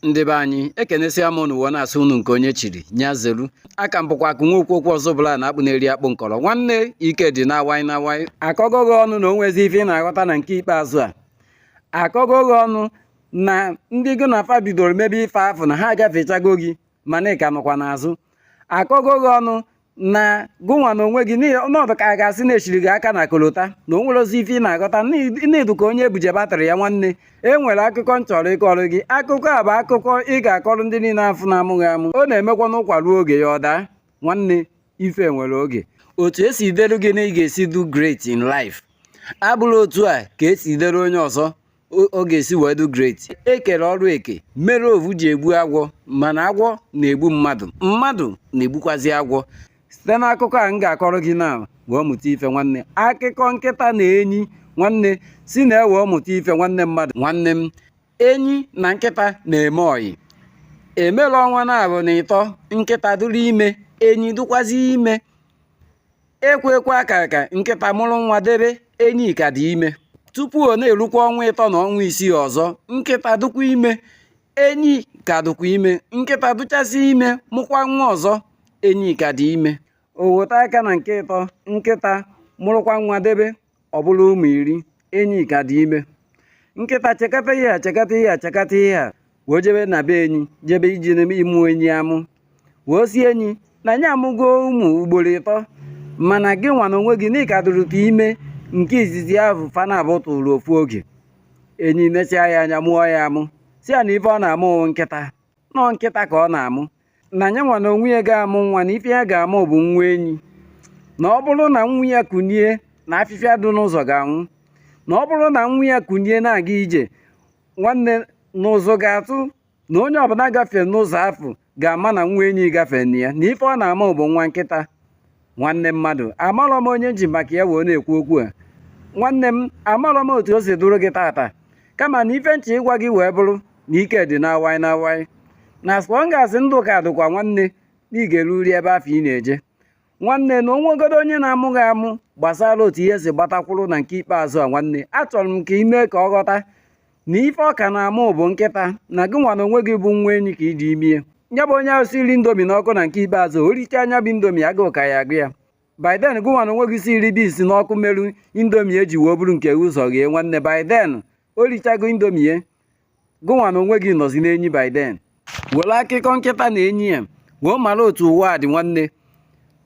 ndị be anyị ekenesia m unu wee na-asị unu nke onye chiri nya zeru aka m bụkwa aka nwe okwu okwu ọzọ bụla na akpụ na-eri akpụ nkọrọ nwanne ike dị na awai na awai akọgo gị ọnụ na o nwezi ife ị na-aghọta na nke ikpeazụ a akọgo gị ọnụ na ndị gị na fa bidoro mebe ife afụ na ha agafechago gị mana ị ka nọkwa n'azụ akọgo gị ọnụ na gụnwa na onwe gị na ọ dụ ka a ga-asị na e chiri gị aka na kolota na o nwerọzi ife ị na-aghọta na ị dụ ka onye ebuje batịrị ya nwanne e nwere akụkọ m chọrọ ịkọrọ gị akụkọ a bụ akụkọ ị ga-akọrọ ndị niile afụ na-amụ gị amụ ọ na-emekwa na ụkwa ruo oge ya ọ daa nwanne ife nwere oge otu esi delu gị na ị ga-esi dụ great in life abụrọ otu a ka esi delu onye ọzọ ọ ga-esi wee dị great e kere ọrụ eke mere ovu ji egbu agwọ mana agwọ na-egbu mmadụ mmadụ na-egbukwazi agwọ site n'akụkọ a m ga-akọrọ gị na wee mụta ife nwanne akụkọ nkịta na enyi nwanne si na ya wee mụta ife nwanne mmadụ nwanne m enyi na nkịta na-eme ọyị e mere ọnwa naabọ na ịtọ nkịta dụrụ ime enyi dụkwazi ime ekwe ekwe aka ka nkịta mụrụ nwa debe enyi ka dị ime tupu ọ na-erukwa ọnwa ịtọ na ọnwa isii ọzọ nkịta dụkwa ime enyi ka dụkwa ime nkịta dụchasị ime mụkwa nwa ọzọ enyi ka dị ime o weta aka na nke ịtọ nkịta mụrụkwa nwa debe ọ bụrụ ụmụ iri enyi ka dị ime nkịta chekata ihe a chekata ihe a chekata ihe a wee jebe na be enyi jebe iji ịmụ enyi amụ wee sị enyi na nya amụgo ụmụ ugboro ịtọ mana gị nwa na onwe gị na ị ka dụrụta ime nke izizi ahụ fa naabọ tụrụ ofu oge enyi nechaa ya anya mụọ ya amụ sị ya na ife ọ na-amụ bụ nkịta na ọọ nkịta ka ọ na-amụ na nya nwa na onwe ya ga-amụ nwa na ife ya ga-amụ bụ nwa enyi na ọ bụrụ na nwa ya kunie na afịfịa dị n'ụzọ ga-anwụ na ọ bụrụ na nwa ya kunie na-aga ije nwanne na ụzọ ga-atụ na onye ọbụla gafere n'ụzọ afụ ga-ama na nwa enyi gafere na ya na ife ọ na-amụ bụ nwa nkịta nwanne mmadụ amarọ m onye m ji maka ya wee na-ekwu okwu a nwanne m amarọ m otu o si dụrụ gị tata kama na ife m chọ ịgwa gị wee bụrụ na ike dị na awaị na awaị na so long as ndụ ka dụkwa nwanne na ị ga-eruri ebe afụ ị na-eje nwanne na o nwegodo onye na-amụ gị amụ gbasara otu ihe si gbatakwụrụ na nke ikpeazụ a nwanne achọrọ m ka ị mee ka ọ ghọta na ife ọ ka na-amụ bụ nkịta na gị nwa na onwe gị bụ nwa enyi ka i ji ime nya bụ onye ahụ siri indomie n'ọkụ na nke ikpeazụ o richaa nya bụ indomie agụụ ka ya-agụ ya by then gị nwa na onwe gị siri beans n'ọkụ meru indomie ye ji wee buru nke ụzọ ghee nwanne by then o richago indomie ye gị nwa na onwe gị nọzi n'enyi by then were akụkọ nkịta na enyi ya wee mara otu ụwa dị nwanne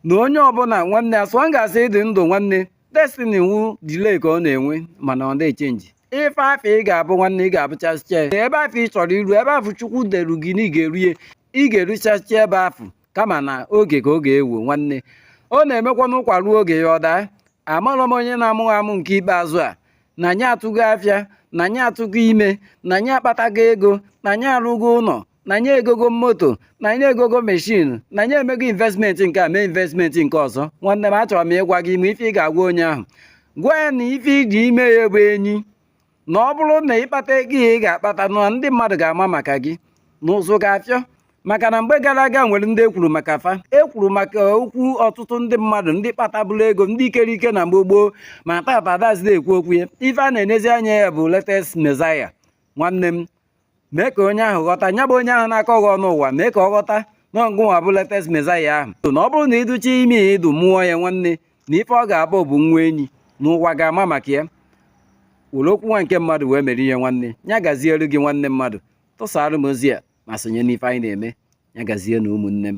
na onye ọbụla nwanne as long as ị dị ndụ nwanne destiny wu delay ka ọ na-enwe mana ọ da-echenji ife afụ ị ga-abụ nwanne ị ga-abụchasịcha ebe afụ ị chọrọ iru ebe afụ chukwu deru gị na ị ga-eru ya ị ga-eruchasịcha ebe afụ kama na oge ka ọ ga-ewe nwanne ọ na-emekwa na ụkwa ruo oge ya ọ daa amarọ m onye na-amụ gị amụ nke ikpeazụ a na nya atụgo afịa na nya atụgo ime na nya akpatago ego na nya arụgo ụlọ na nya egogo moto na nya egogo meshin na nya emego investment nke a mee investment nke ọzọ nwanne m achọrọ m ịgwa gị ị ma ife ị ga-agwa onye ahụ gwa ya na ife ị dị ime ya bụ enyi na ọ bụrụ na ị kpata ego ị ga-akpata na ndị mmadụ ga-ama maka gị na ụzụ ga-afịọ maka na mgbe gara aga nwere ndị e kwuru maka fa e kwuru maka okwu ọtụtụ ndị mmadụ ndị kpataburu ego ndị ikere ike na mgbe gboo ma tata adazide ekwu okwu ya ife a na-enezi anya ya bụ latest Messiah nwanne m mee ka onye ahụ ghọta nya bụ onye ahụ na-akọ gị ọnụ ụwa mee ka ọ ghọta na ọ gụnwa bụ latest Messiah ahụ na ọ bụrụ na ị dụcha ime ya ị dụ mụọ ya nwanne na ife ọ ga-abụ bụ nwa enyi na ụwa ga-ama maka ya were okwu nwa nke mmadụ wee mere ihe nwanne ya gazielu gị nwanne mmadụ tụsaara m ozi a ma sonye n'ife anyị na-eme ya gazie nụ ụmụnne m